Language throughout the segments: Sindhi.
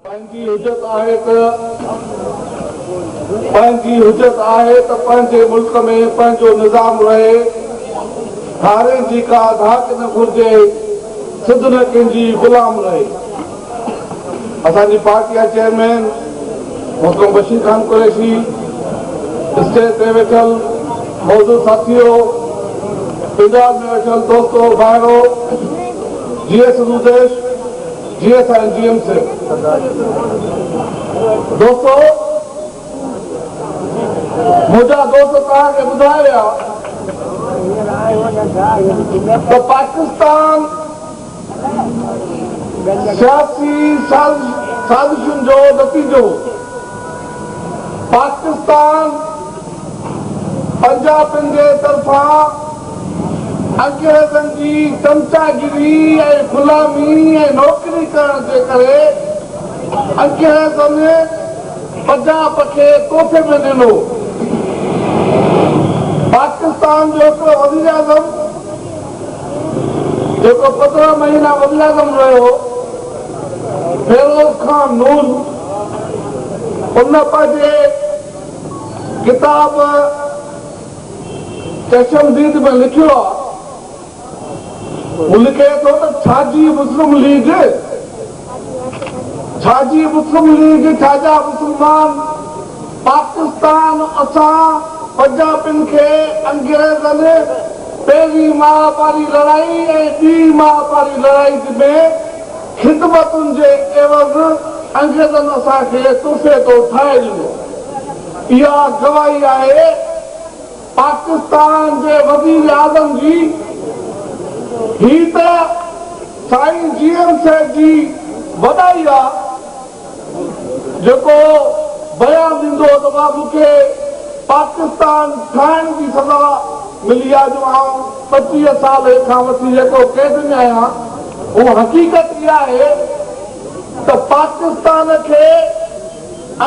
پنهنجي حجت آهي ته پنهنجي حجت آهي ته پنهنجي ملڪ ۾ پنهنجو نظام رهي، ڌارين جي ڪا ڌاڪ نه گهرجي، سڌ نه ڪنهن جي غلام رهي. اسان جي پارٽي جا چيئرمين محترم بشير خان قريشي، اسٽيج تي ويٺل معزز ساٿيو، پنڊال ۾ ويٺل دوستو ڀائرو، جيئي سنڌو ديش، جي ايس آر ۽ جي ايم سي دوستو منهنجا دوست توهان کي ٻڌائي ويا ته پاڪستان سياسي سازشن جو نتيجو پاڪستان پنجابين جي طرفان انگريزن جي چمچاگيري ۽ غلامي ۽ نوڪري ڪرڻ جي ڪري انگريزن پنجاب کي تحفي ۾ ڏنو. پاڪستان جو هڪڙو وزيراعظم جيڪو پندرهن مهينا وزيراعظم رهيو، فيروز خان نون ان پنهنجي ڪتاب چشم ديد ۾ لکيو آهي. هو لکي ٿو ته ڇاجي مسلم ليگ، ڇاجي مسلم ليگ، ڇاجا مسلمان، پاڪستان اسان پنجابين کي انگريزن، پهرين ماهه واري لڙائي ۽ ٻي ماهه واري لڙائي ۾ خدمتن جي عيوض انگريزن اسان کي تحفي طور ٺاهي ڏنو. اها گواهي آهي پاڪستان جي وزيراعظم جي. هي ته سائين جي ايم سيد جي وڏائي آ. جيڪو بيان ڏيندو هو ته مان مون کي پاڪستان ٺاهڻ جي سزا ملي آهي جو آئون پنجويهه سال کان وٺي جيڪو قيد ۾ آهيان هو حقيقت اها آهي ته پاڪستان کي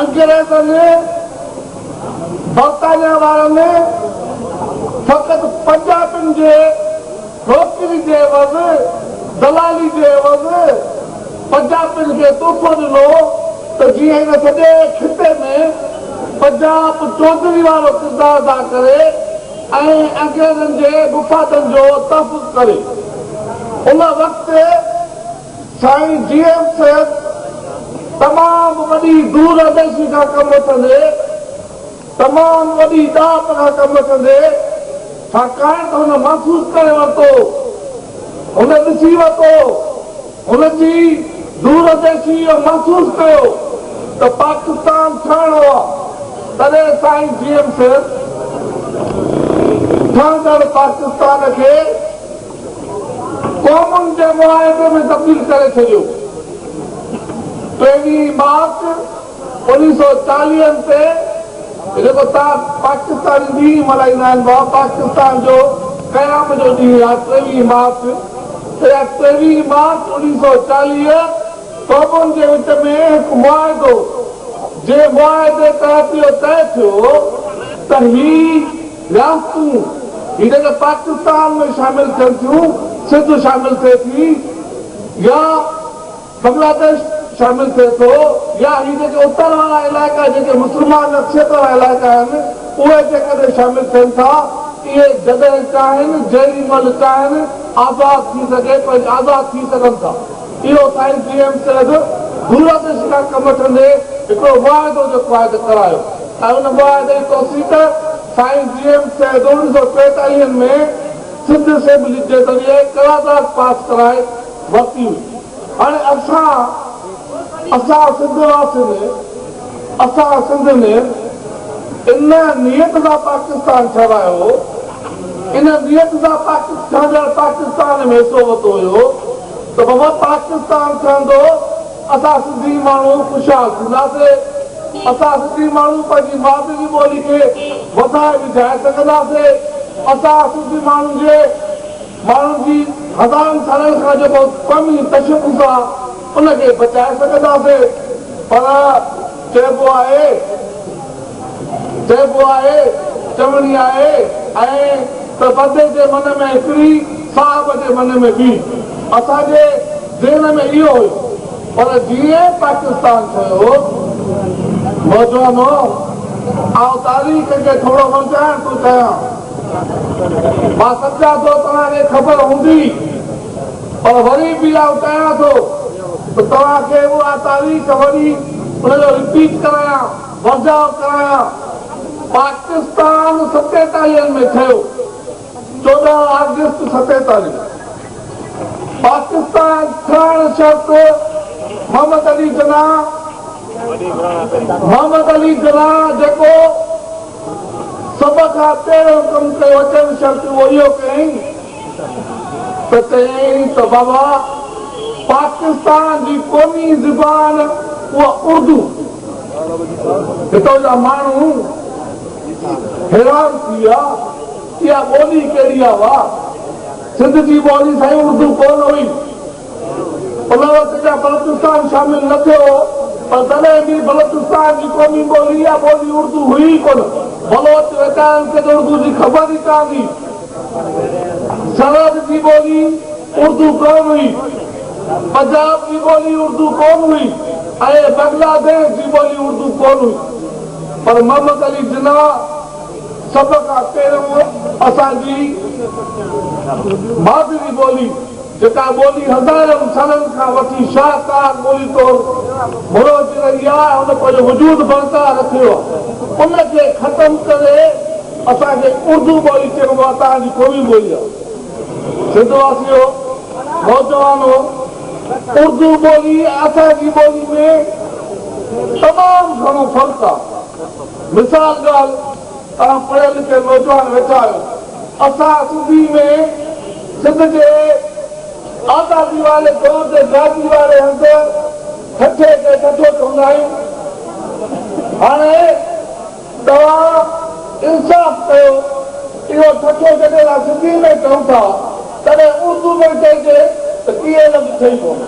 انگريزن برطانيا وارن فقط پنجابين جي نوڪري جي عيوض، دلالي جي عيوض پنجاپين کي تحفو ڏنو ته جيئن هن سڄي خطي ۾ پنجاپ چوڌري وارو ڪردار ادا ڪري ۽ انگريزن جي مفادن جو تحفظ ڪري. ان وقت سائين جي ايم سيد تمام وڏي دور انديشي سان ڪم وٺندي، تمام وڏي ڏات کان ڪم ڪندي ڇاڪاڻ ته هن محسوس ڪري ورتو، هن ڏسي ورتو، هن جي دورانديشي اهو محسوس ڪيو ته پاڪستان ٺهڻو آ تڏهن سائين جي ايم سيد ٺهندڙ پاڪستان کي قومن جي معاهدي ۾ تبديل ڪري ڇڏيو پهرين ئي مارچ انيس سئو چاليهن تي جيڪو تان پاڪستاني ڏينهن ملهائيندا آهن ڀا پاڪستان جو قيام جو ڏينهن يا ٽيويهين مارچ تي يا ٽيويهين مارچ انيس سئو چاليهه قومن جي وچ ۾ هڪ معاهدو جي معاهدي تحت اهو طئي ٿيو هو ته هي رياستون هي جيڪي پاڪستان ۾ شامل ٿين ٿيون سنڌ شامل ٿئي ٿي يا بنگلاديش شامل ٿئي ٿو يا هي جيڪي اتر وارا علائقا جيڪي مسلمان اڪثريت وارا علائقا آهن اهي جيڪڏهن شامل ٿين ٿا اهي جڏهن چاهين جيڏي مهل چاهين آزاد ٿي سگهي پنهنج آزاد ٿي سگهن ٿا اهو سائين جي ايم سيد دورادش کان ڪم وٺندي هڪڙو معاهدو جو قائد ڪرايو ۽ ان معاهدي جي توثيق سائين جي ايم سيد اڻ سؤ ٽيتاليهن ۾ سنڌ اسيمبلي جي ذريعي قرارداد پاس ڪرائي ورتي هئي. هاڻي اسان اسان سنڌ واسين اسان سنڌ ۾ ان نيت سان پاڪستان ٺهرايو هو ان نيت سان پاڪستان ڄڻ پاڪستان ۾ حصو ورتو ويو هو ته بابا پاڪستان ٺهندو اسان سنڌي ماڻهو خوشحال ٿينداسي اسان سنڌي ماڻهو پنهنجي مادري جي ٻولي کي وڌائي وجهائي سگهنداسي اسان سنڌي ماڻهن جي ماڻهن جي هزارن سالن کان جو بهت فهمي تشخص آ ان کي بچائي سگهنداسين پر چئبو آهي چئبو آهي چوڻي آهي ائين ته بدي جي من ۾ هڪڙي صاحب جي من ۾ ٻي اسان جي ذهن ۾ اهو هيو پر جيئن پاڪستان ٺهيو نوجوانو آئون تاريخ کي ٿورو ورجائڻ ٿو چاهيان. مان سمجهان ٿو توهان کي خبر هوندي پر وري به آئون چاهيان ٿو ته توهان کي اها تاريخ وري ان جو رپيٽ ڪرايان، ورجاء ڪرايان. پاڪستان ستيتاليهن ۾ ٺهيو، چوڏهن آگسٽ ستيتاليهه. پاڪستان ٺهڻ شرط Muhammad Ali Jinnah, Mohammad Ali Jinnah، جيڪو سڀ کان پهريون ڪم ڪيو اچڻ شرط اهو اهو ڪيائين ته چيائين ته بابا پاڪستان جي قومي زبان اها اردو هتو جا ماڻهو حيران ٿي ويا اها ٻولي ڪهڙي آ واهه سنڌ جي ٻولي سائين اردو ڪونه هئي. ان وقت جا بلوچستان شامل نه ٿيو هو پر تڏهن به بلوچستان جي قومي ٻولي يا ٻولي اردو هئي ئي ڪونه. بلوچ ويچارن کي ته اردو جي خبر ئي ڪانه هئي. سرحد جي ٻولي اردو ڪونه هئي. پنجاب جي ٻولي اردو ڪونه هئي ۽ بنگلاديش جي ٻولي اردو ڪونه هئي. پر محمد علي جناح سڀ کان پهريون اسان جي مادري ٻولي، جيڪا ٻولي هزارن سالن کان وٺي شاهڪار ٻولي طور مروجي رهي آهي ۽ هن پنهنجو وجود برقرار رکيو آهي، ان کي ختم ڪري اسان کي اردو ٻولي چئبو آهي، تهان جي قومي ٻولي آهي. سنڌ واسيو، نوجوانو! اردو ٻولي ۽ اسان جي ٻولي ۾ تمام گهڻو فرق آهي. مثال ڳالهه. تهان پڙهيل لکيل نوجوان ويٺا آهيو اسان سنڌي ۾ سنڌ جي آزادي واري دور جي گادي واري هنڌ ٺٽي کي ٺٽو چوندا آهيون هاڻي توهان انصاف ڪيو اهو ٺٽو جڏهن اسان سنڌي ۾ چئون ٿا تڏهن اردو ۾ چئجي ته ڪيئي لفظ ٺهي پوندو.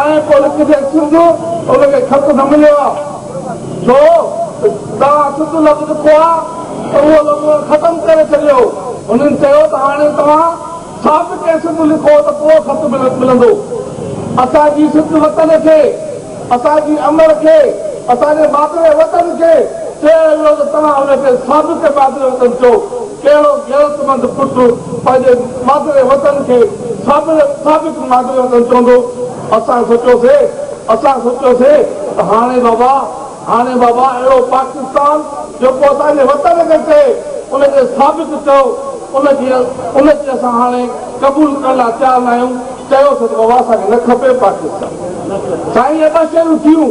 ائين ڪو لکجي ته سنڌ ان کي خط نه مليو آ ڇو ته توهان سنڌ لفظ لکو آ ته اهو لفظ ختم ڪري ڇڏيو هنن چيو ته هاڻي توهان سابقي سنڌ لکو ته پوء خط ملندو اسان جي سنڌ وطن کي اسان جي امڙ کي اسان جي مادري وطن کي چيو ويو ته توهان ان کي سابقي مادري وطن چئو ڪهڙو غيرتمند پٽ پنهنجي مادري وطن کي سابق مادري وطن چوندو؟ اسان سوچيوسي اسان سوچيوسي ته هاڻي بابا هاڻي بابا اهڙو پاڪستان جيڪو اسان جي وطن کي چئي ان کي سابق چئو ان کي ان کي اسان هاڻي قبول ڪرڻ لاء تيار ناهيون چيوسي ته بابا اسان کي نه کپي پاڪستان سائين اهي ٻه شيون ٿيون.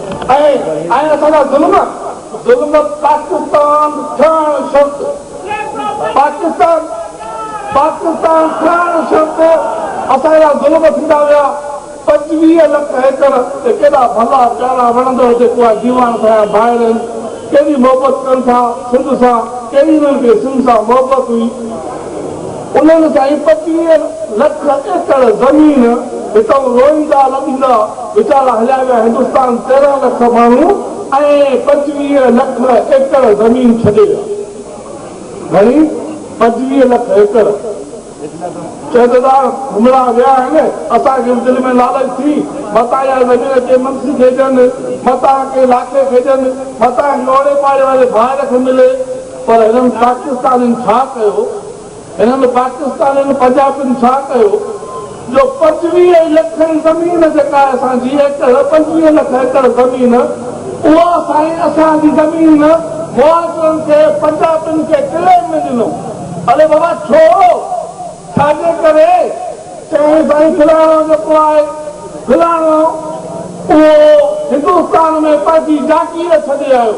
۽ اسان جا ظلم ظلم پاڪستان ٺهڻ شرط پاڪستان پاڪستان ٺهڻ شرط اسان جا ظلم ٿيندا ويا پنجويهه لک ايڪڙ تي ڪيڏا ڀلا پيارا وڻندڙ جيڪو آهي ديوان سايا ڀائر آهن ڪيڏي محبت ڪن ٿا سنڌ سان ڪهڙي نه ڪهڙي سنڌ سان محبت هئي انهن سائين پچيهن لک ايڪڙ زمين هتان روئيندا لڏيندا ويچارا هليا ويا هندستان تيرهن لک ماڻهو ۽ پچويهه لک ايڪڙ زمين ڇڏي ويا گهڻي پچويهه لک ايڪڙ چئي ته دا گهمڻا ويا آهن اسان کي به دل ۾ لالچ ٿي متان اها زمين ڪنهن منسي کي ڏين متان ڪنهن لاکي کي ڏين متان ڪنهن اوڙي پاڙي واري ڀائر کي ملي پر هنن پاڪستانين ڇا ڪيو انهن پاڪستانين پنجابين ڇا ڪيو جو پنجويهه لک زمين جيڪا اسان جي ايڪڙ پنجويهه لک ايڪڙ زمين اها سائين اسان جي زمين مهاجرن کي پنجابين کي ڪليم ۾ ڏنو اڙي بابا ڇو ڇا جي ڪري چيائين سائين فلاڻو جيڪو آهي فلاڻو اهو هندوستان ۾ پنهنجي جاگير ڇڏي آيو.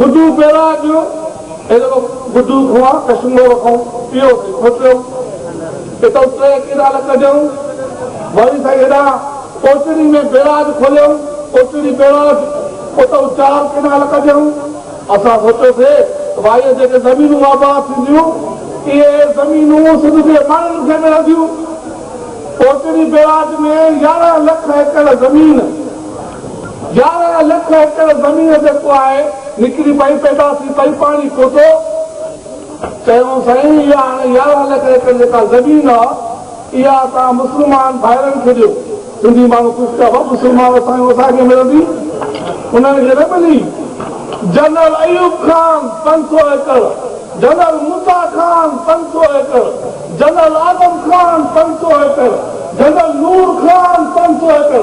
گڊو پيرا ڏيو ايڏو گڊو کوهان ڪشمور کان پيو سائين کوٽيو اتئون ٽي ڪينال ڪڍيئون وري سائين هيڏان اوچڙي ۾ بيراج کوليئون اوچڙي بيراج اتئون چار ڪينال ڪڍيئون اسان سوچيو سي ته وائيء جيڪي زمينون آباد ٿينديون اهي زمينون سنڌ جي ماڻهن کي ملنديون اوچڙي بيراج ۾ يارهن لک ايڪڙ زمين يارهن لک ايڪڙ زمين جيڪو آهي نڪري پئي پيدا ٿي پئي پاڻي پوتو چيائون سائين اها هاڻي يارهن لک ايڪڙ جيڪا زمين آ اها اسان مسلمان ڀائرن کي ڏيو سنڌي ماڻهو خوش ٿيا ڀا مسلمان سائين اسان کي ملندي انهن کي نه ملي جنرل ايوب خان پنج سو ايڪڙ جنرل موسا خان پنج سو ايڪڙ جنرل آدم خان پنج سو ايڪڙ جنرل نور خان پنج سو ايڪڙ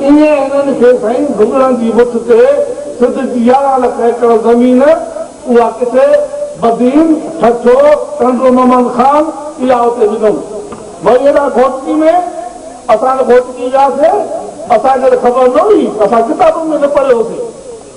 ايئن انهن کي سائين گهمڻن جي مٺ تي سنڌ جي يارهن لک ايڪڙ زمين اها ڪٿي بدين، ٺٺو، ٽنڊو محمد خان اها اتي وڌم. وئي هيڏانهن گهوٽڪي ۾. اسان ته گهوٽڪي وياسين. اسان کي ته خبر نه هئي. اسان ڪتابن ۾ نه پڙهيو هوسين.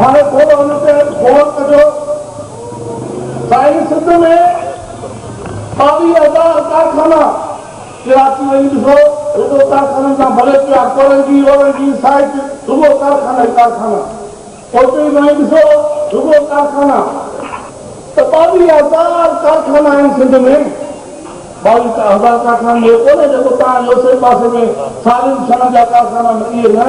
هاڻي ٿورو ان تي غور ڪجو سائين سنڌ ۾ ٻاويهه هزار ڪارخانا ڪراچي وڃي ڏسو رڳو ڪارخانن جا ڀلي پيا ڪورنگي اورنگي سائيٽ رڳو ڪارخانا ئي ڪارخانا اوچي تائين ڏسو رڳو ڪارخانا ته ٻاويهه هزار ڪارخانا آهن سنڌ ۾ ٻاويهه هزار ڪارخانن ۾ اهو ڪونهي جيڪو تان جو سي پاسي ۾ سارين شهرن جا ڪارخانا اهي نه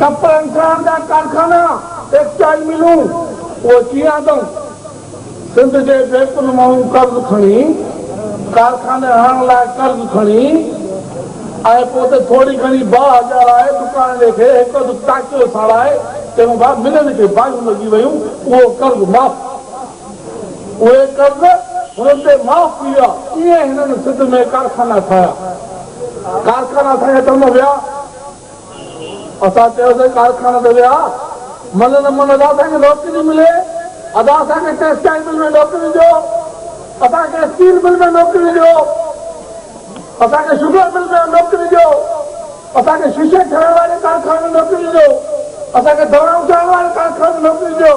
ڪپڙن ٺاهڻ جا ڪارخانا، ٽيڪسٽائيل ملون، اهي ڪيئن آندائون؟ سنڌ جي بينڪن مانهون قرض کڻي، ڪارخاني هڻڻ لاء قرض کڻي ۽ پوء ته ٿوري گهڻي باهه ڄاڻائي، دڪاندي کي هڪ اڌ ٽاڪيو ساڙائي چئبو ڀا ملين کي باهيون لڳي ويون، اهو قرض معاف ٿي ويو. اهي قرض هنن تي معاف ٿي ويا. ائين هنن سنڌ ۾ ڪارخانا ٺاهيا. ڪارخانا ٺاهي ته هم ويا. اسان چيوسين ڪارخاني تي ويا من نه من ادا اسان کي نوڪري نه ملي ادا اسان کي ٽيڪسٽائيل مل ۾ نوڪري ڏيو اسان کي اسٽيل مل ۾ نوڪري ڏيو اسان کي شوگر مل ۾ نوڪري ڏيو اسان کي شيشي ٺاهڻ واري ڪارخاني ۾ نوڪري ڏيو اسان کي دوائون ٺاهڻ واري ڪارخاني ۾ نوڪري ڏيو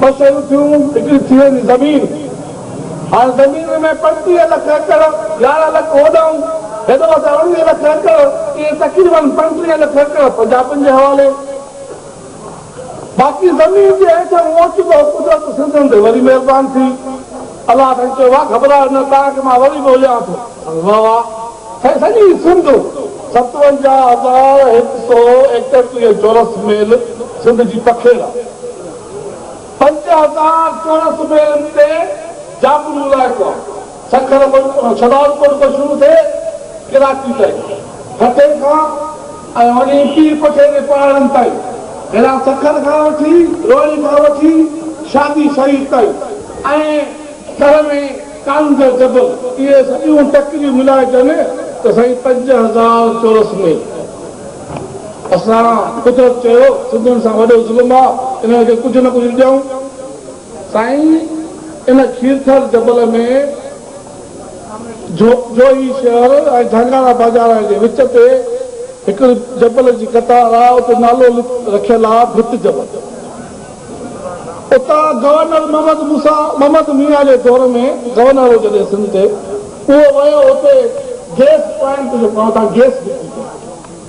ٻه شيون ٿيون، هڪڙي ٿي ويندي زمين، هاڻ زمين ۾ پنجٽيهه لک ايڪڙ، يارهن لک هوڏانهن، هيڏو اسان اڻويهه لک ايڪڙ، ائين تقريبن پنجٽيهه لک ايڪڙ پنجابين جي حوالي. باقي زمين جي هيٺ اهو اوچتو قدرت سنڌين تي وري مهربان ٿي. الله سائين چيو واه گهٻرايو نه توهان کي مان وري به هليانو ٿو. سائين واه واه سائين سڄي سنڌ ستونجاهه هزار هڪ سو ايڪٽيهه چورس ميل سنڌ جي پکيڙ آ پنج هزار چورس ميلن تي جابلو علائقو آ سکر مان شهدادڪوٽ کان شروع ٿي ڪراچي تائين هتي کان ۽ هونئن ئي پير پٺي جي پهاڙن تائين، هيڏانهن سکر کان وٺي روهڙي کان وٺي شادي شريف تائين ۽ ٿر ۾ ڪانگ جو جبل، اهي سڄيون ٽڪريون ملائجن ته سائين پنج هزار چورس ميل. اسان قدرت چيو سنڌين سان وڏو ظلم آ، انهن کي ڪجهه نه ڪجهه ڏيون. سائين ان کيرٿر جبل ۾ جوهي شهر ۽ جهانگانا بازار جي وچ تي هڪڙي جبل جي قطار آهي، اتي نالو رکيل آهي ڀت جبل. اتان گورنر محمد موسيٰ محمد ميان جي دور ۾ گورنر هو جڏهن سنڌ تي اهو ويو اتي گيس پوائنٽ جو اتان گيس بڪري ڪئي.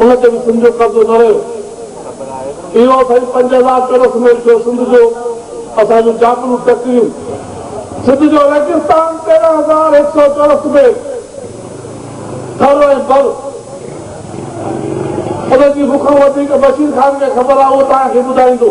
ان تي به سنڌ جو قبضو نه رهيو. اهو سائين پنج هزار چورس ميل ٿيو سنڌ جو، اسان جون جابلو ٽڪريون. سنڌ جو ريگستان تيرهن هزار هڪ سؤ چورس ميل ٿر ۽ بر. ان جي مون کان وڌيڪ بشير خان کي خبر آهي، اهو توهان کي ٻڌائيندو.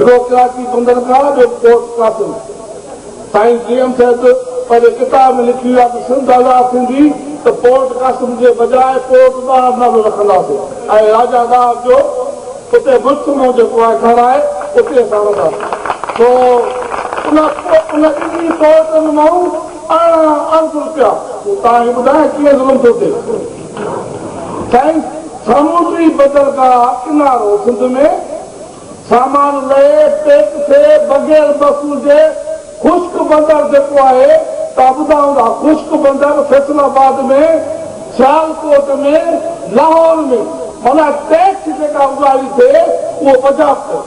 رڳو ڪراچي بندرگاهه جو پورٽ قاسم سائين جي ايم سيد پنهنجي ڪتاب ۾ لکي ويو آهي ته سنڌ آزاد ٿيندي ته پورٽ قاسم جي بجاء پورٽ ڏاهر نالو رکنداسين ۽ راجا ڏاهر جو اتي مجتمعو جيڪو آهي ٺهرائي اتي اسان رهنداسين سو ان ان ٻنهي پورٽن مان ارڙهن ارب روپيا تون تان هي ٻڌاء ڪيئن ظلم ٿو ٿئي سائنس سامونڊي بندرگاهه ڪنارو سنڌ ۾ سامان لئي پيڪ ٿئي بغير بس هجي خشڪ بندر جيڪو آهي ته ابداون ها خشڪ بندر فيصل آباد ۾ سيالڪوٽ ۾ لاهور ۾ معنيٰ ٽيڪس جيڪا اگهاڙي ٿئي اهو پنجاب ڪري.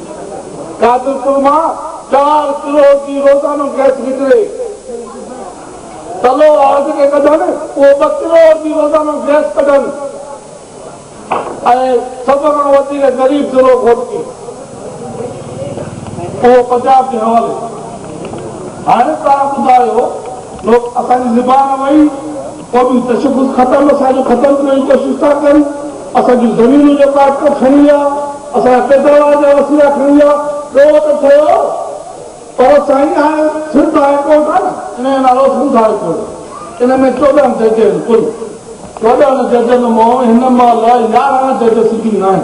قادرپور مان چار ڪروڙ جي روزانو گئس نڪري، تلو آرڊ کي ڪڍن اهو ٻه ڪروڙ جي روزانو گئس ڪڍن ۽ سڀ کان وڌيڪ غريب ضلعو گهوٽڪي اهو پنجاب جي حوالي. هاڻي توهان ٻڌايو لوڪ اسان جي زبان وئي. قومي تشخص ختم اسان جو ختم ڪرڻ جي ڪوشش ٿا ڪن اسان جون زمينون جو قاٽڪو کڻي ويا اسان جا پيداوار جا وسيلا کڻي ويا ڏوهه ته ٺهيو پر سائين هاڻي سنڌ هاء ڪورٽ آهي نه ان جو نالو سنڌ هاء ڪورٽ ان ۾ چوڏهن جج آهن ڪل چوڏهن ججن مون هن مهل يارهن جج سٽنگ آهن.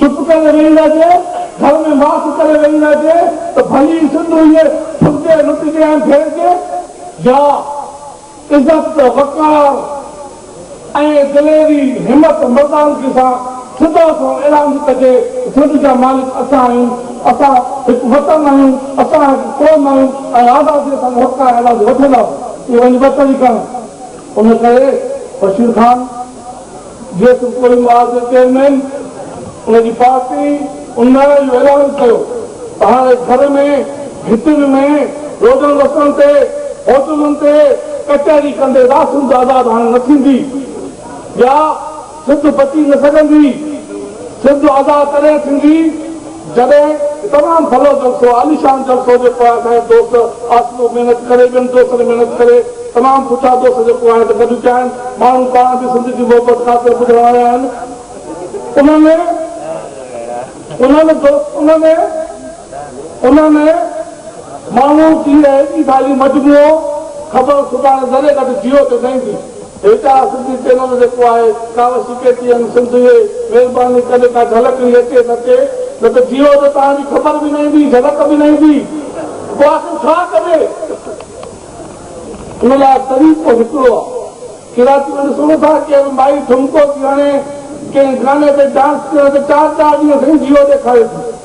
چپ ڪري ويهي رهجي، گهر ۾ ماسڪ ڪري ويهي رهجي ته ڀلي ئي سنڌ هئي ڦرجي، لٽجي ۽ ڦيرجي يا عزت، وقار ۽ دليري، همت، مردانگي سان صدا سان اعلان به ڪجي ته سنڌ جا مالڪ اسان آهيون، اسان هڪ وطن آهيون، اسان هڪ قوم آهيون ۽ آزاديء سان موقعا اعلان وٺنداسون. اهي وڃي ٻه طريقا آهن. ان ڪري بشير خان. جيئن تون ڪوئي ماڳ جو چيئرمين ان جي پارٽي ان نعري جو اعلان ڪيو ته هاڻي گهر ۾، گهٽين ۾، روڊن رستن تي، هوٽلن تي ڪچهري ڪندي راسن تعداد هاڻي نه ٿيندي. يا سنڌ بچي نه سگهندي. سنڌ ادا تڏهن ٿيندي. جڏهن تمام ڀلو جلسو عاليشان جلسو هجي پوء اسان جا دوست آصفو محنت ڪري ٻين دوستن محنت ڪري تمام سٺا دوست جيڪو آهن ته گڏ ٿيا آهن ماڻهو پاڻ به سنڌ جي محبت خاطر ٻڌڻ آيا آهن انهن ۾ انهن دوست انهن ۾ انهن ۾ ماڻهو جي اهڙي ڀالي مجموعو خبر سڀاڻي ذري گڏ جيو ته سهيندي. هيٺان سنڌي چينل جيڪو آهي ڪاوه سي ڪي ٽي ايم سنڌ جي مهرباني ڪڏهن ڪا جهلڪڙي اچي ته اچي نه ته جيو جو توهان جي خبر به نه ايندي جهلڪ به نه ايندي پوء آخر ڇا ڪجي ان لاء طريقو هڪڙو آ ڪراچي ۾ ڏسون ٿا ڪير مائي ٺمڪو ٿي هڻي ڪنهن گاني تي ڊانس ڪرڻ تي چار چار ڏينهن سائين جيو ڏيکاري ٿي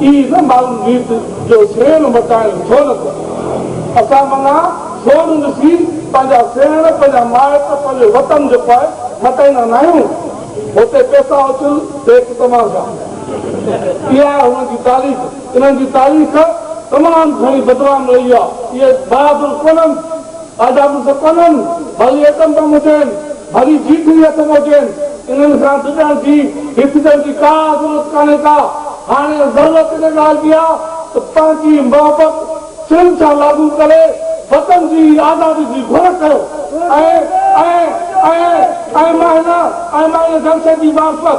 اي نه معلوم ريت جو سيڻ مٽائڻ ڇو نه ٿو اسان منا سون ڏسي پنهنجا سيڻ پنهنجا مائٽ پنهنجو وطن جو پئي مٽائيندا ناهيون هتي پيسا اڇل ڏيک تماشا اها آهي هنن جي تاريخ انهن جي تاريخ تمام گهڻي بدنام رهي آهي اهي بهادر ڪونهن آجا مڙس ڪونهن ڀلي ايٽم بم هجين. ڀلي جيڪو ئي اٿن هجين، انهن کان ڊڄڻ جي، هيسجڻ جي ڪا ضرورت ڪانهي ڪا. هاڻي ضرورت ان ڳالهه جي آ ته پنهنجي محبت سنڌ سان لاڳو ڪري وطن جي آزادي جي گهر ڪيو ۽ ۽ ۽ ۽ مان هن ۽ مان هن جلسي جي معرفت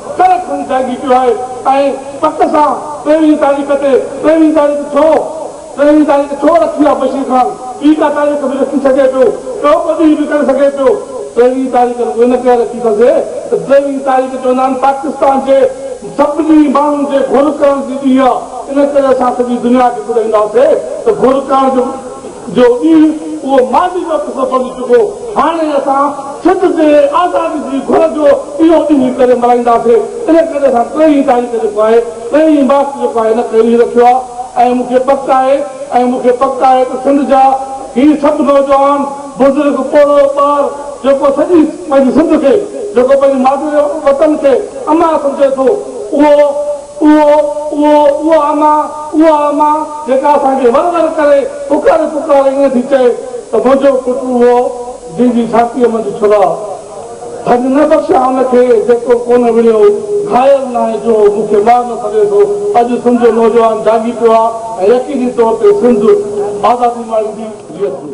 ڪري کڻي جهانگي پيو آهي ۽ پڪ سان ٽيويهين تاريخ تي ٽيويهين تاريخ ڇو؟ ٽيويهين تاريخ ڇو رکي آهي بشير خان؟ ٻي ڪا تاريخ به رکي سگهي پيو، ٻيو ڪو ڏينهن به ڪري سگهي پيو، ٽيويهين تاريخ رڳو ان ڪري رکي اٿسي ته ٽيويهين تاريخ چوندا آهن پاڪستان جي سڀني ماڻهن جي گهر ڪرڻ جي ڏينهن آهي ان ڪري اسان سڄي دنيا کي ٻڌائيندا هئاسي ته گهر ڪرڻ جو جو ڏينهن اهو ماضي جو قصو بڻجي چڪو، هاڻي اسان سنڌ جي آزادي جي گهر جو اهو ڏينهن ڪڏهن ملهائينداسين، ان ڪري اسان ٽيهين تاريخ جيڪو آهي ٽيهين مارچ جيڪو آهي نه ڪيو ئي رکيو آهي ۽ مون کي پڪ آهي ۽ مون کي پڪ آهي ته سنڌ جا هي سڀ نوجوان، بزرگ، پوڙهو ٻار جيڪو سڄي پنهنجي سنڌ کي جيڪو پنهنجي مادري وطن کي امان سمجهي ٿو اهو. اهو، اهو، اها اما، اها اما جيڪا اسان کي ور ور ڪري پڪاري پڪاري ائين ٿي چئي ته منهنجو پٽ اهو جنهن جي ڇاتيء منجهه ڇرا ڌڳ نه بخشيا ان کي جيڪو ڪونه وڙهيو گهايل ناهي جو مون کي مار نه سگهي ٿو اڄ سنڌ جو نوجوان جاڳي پيو آهي ۽ يقيني طور تي سنڌ آزادي ماڻيندي. جيئي سنڌ.